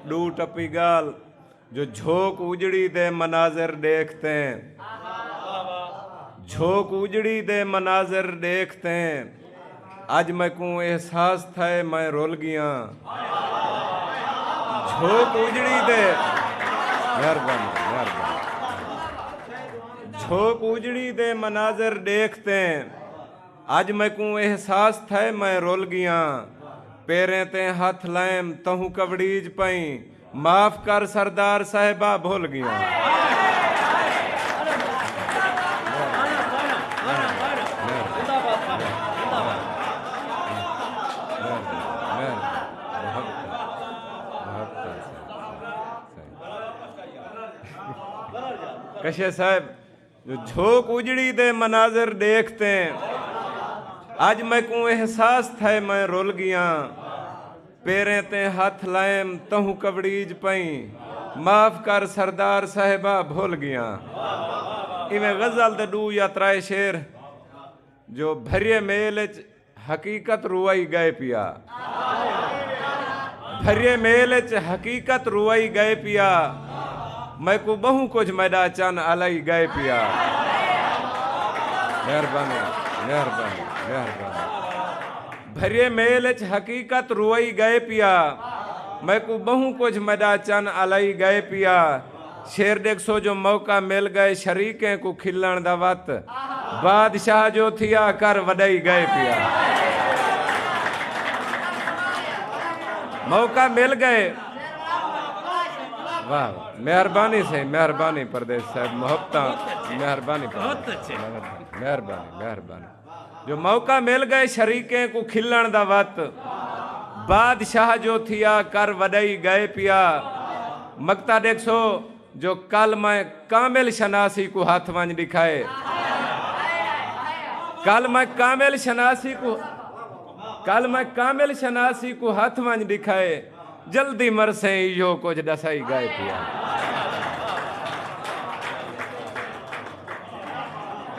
ݙو ٹپی ڳالھ جو جھوک اجڑی دے مناظر ݙیکھ تیں جھوک اجڑی دے مناظر ݙیکھ تیں اڄ میکوں احساس تھئے میں رل ڳیاں جھوک اجڑی دے مہربانی مہربانی جھوک اجڑی دے مناظر ݙیکھ تیں اج میکوں احساس تھئے میں رل گیاں پیریں تے ہتھ لائیم تہوں کبڑیج پئیں معاف کر سردار صاحبہ بھل گیاں۔ جو جھوک اجڑی دے مناظر ڈیکھ تے اج میکوں احساس تھئے میں رل گیاں پیریں تے ہتھ لائم تہوں کبڑیج پئیں معاف کر سردار صاحبا بھل گیاں ایویں غزل دے ڈو یا ترائے شعر جو بھریے میل اچ حقیقت روائی گئے پیا بھریے میل اچ حقیقت روائی گئے پیا میکوں بہوں کجھ میڈا چن الائی گئے پیا مہربانی مہربانی مہربانی بھریے میل اچ حقیقت روائی گئے پیا میکوں بہوں کجھ میڈا چن الائی گئے پیا شعر ڈیکھسو جو موقع مل گئے شریکیں کوں کھلنڑ دا وت بادشاہ جو تھیا کر وڈائی گئے پیا موقع مل گئے واہ مہربانی سے مہربانی پردیش صاحب محبتاں مہربانی مہربانی مہربانی جو موقع مل گئے شریکیں کوں کھلنڑ دا وت بادشاہ جو تھیا کر وڈئی گئے پیا مگتا ڈیکھسو جو کل میں کامل شناسی کوں ہتھ ونج ڈکھائے کل میں کامل شناسی کوں کل میں کامل شناسی کوں ہتھ ونج ڈکھائے جلدی مرسیں ایہو کچھ ڈسائی گئے پیا۔